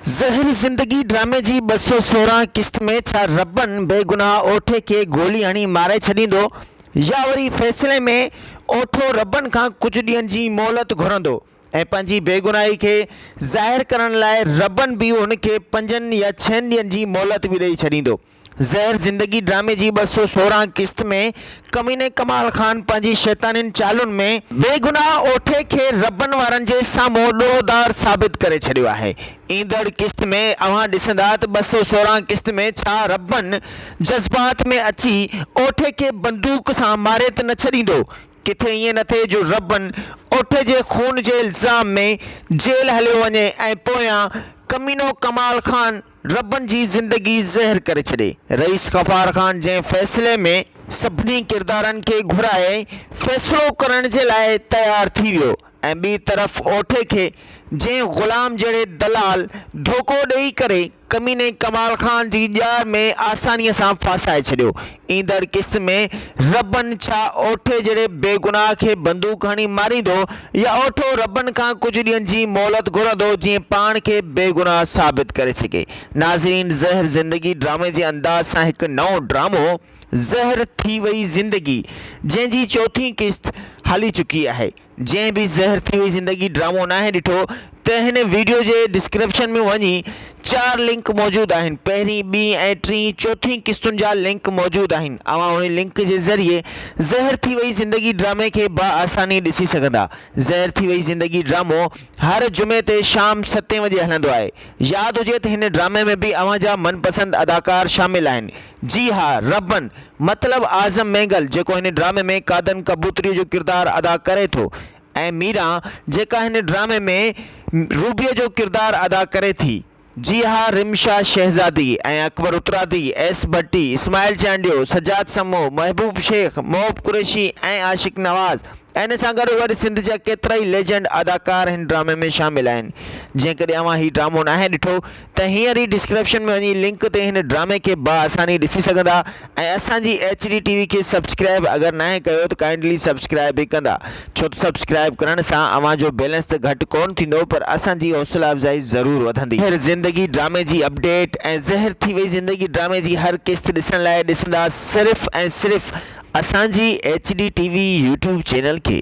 زهر زندگي ڊرامي جي ٻه سؤ سورهن قسط ۾ ڇا ربن بي گناهه اوٺي کي گولي هڻي ماري ڇڏيندو يا وري فيصلي ۾ اوٺو ربن کان ڪجهه ڏينهن جي مهلت گهرندو ۽ پنهنجي بيگناهي کي ظاهر ڪرڻ لاء ربن به هن کي پنجن يا ڇهن ڏينهن جي مهلت به ڏئي ڇڏيندو. زهر زندگي ڊرامي جي ٻه سؤ سورهن قسط ۾ ڪميني ڪمال خان پنهنجي شيطانين چالن ۾ بيگناهه اوٺي کي ربن وارن جي سامهون ڏوهدار ثابت ڪري ڇڏيو آهي ايندڙ قسط ۾ اوهان ڏسندا ته ٻه سؤ سورهن قسط ۾ ڇا ربن جذبات ۾ اچي اوٺي کي بندوق سان ماري ته نه ڇڏيندو ڪٿي ائين نه ٿئي جو ربن اوٺي جي خون جي الزام ۾ جيل هليو وڃي ۽ پويان ڪمينو ڪمال خان ربن جي زندگي زهر ڪري ڇڏي. رئيس غفار خان جنهن فيصلي ۾ سڀني ڪردارن کي گهرائي فيصلو ڪرڻ جي لاء تيار ٿي ويو ۽ ٻي طرف اوٺي کي جنهن غلام جهڙي دلال ڌوڪو ڏئي ڪري ڪميني ڪمال خان جي ڄار ۾ آساني سان ڦاسائي ڇڏيو ايندڙ قسط ۾ ربن ڇا اوٺي جهڙي بيگناهه کي بندوق هڻي ماريندو يا اوٺو ربن کان ڪجهه ڏينهن جي مهلت گهرندو جيئن پاڻ کي بيگناهه ثابت ڪري سگهي ناظرين زهر زندگي ڊرامي جي انداز سان هڪ نئون ڊرامو زهر ٿي وئي زندگي جنهن جي چوٿين قسط هلي چڪي آهي. جنهن به زهر ٿي وئي زندگي ڊرامو ناهي ڏٺو ته هن ويڊيو جي ڊسڪرپشن ۾ وڃي چار لنڪ موجود آهن پهرين ٻين ۽ ٽين چوٿين قسطن جا لنڪ موجود آهن اوهان انهي لنڪ جي ذريعي زهر ٿي وئي زندگي ڊرامي کي با آساني ڏسي سگهندا زهر ٿي وئي زندگي ڊرامو هر جمعي تي شام ستين وڄي هلندو آهي ياد هجي ته هن ڊرامي ۾ به اوهان جا من پسند اداڪار شامل آهن جي ها ربن، مطلب اعظم مينگل جيڪو هن ڊرامي ۾ قادن ڪبوتريء جو ڪردار ادا ڪري ٿو ۽ ميرا جيڪا هن ڊرامي ۾ روبيء جو ڪردار ادا ڪري ٿي. جي ها رمشا شهزادي ۽ اڪبر اترادي، ايس ڀٽي، اسماعيل چانڊيو، سجاد سمو، محبوب شيخ، محب قريشي ۽ عاشق نواز ۽ ان سان گڏو گڏ سنڌ جا ڪيترائي ليجنڊ اداڪار هن ڊرامي ۾ شامل آهن. جيڪڏهن اوهان هي ڊرامو ناهي ڏٺو ته هينئر ئي ڊسڪرپشن ۾ وڃي لنڪ تي هن ڊرامي کي با آساني ڏسي سگهندا ۽ اسان جي ايڇ ڊي ٽي وي کي سبسڪرائب اگر ناهي ڪيو ته ڪائنڊلي سبسڪرائب به ڪندا ڇو ته سبسڪرائب ڪرڻ سان اوهان جو بيلنس ته گهٽ ڪون ٿيندو پر اسان جي حوصلا افزائي ضرور وڌندي. زهر زندگي ڊرامي جي اپڊيٽ ۽ زهر ٿي وئي زندگي ڊرامي جي هر قسط ڏسڻ لاء ڏسندا صرف ۽ صرف اسان جي H D T V YouTube channel کي.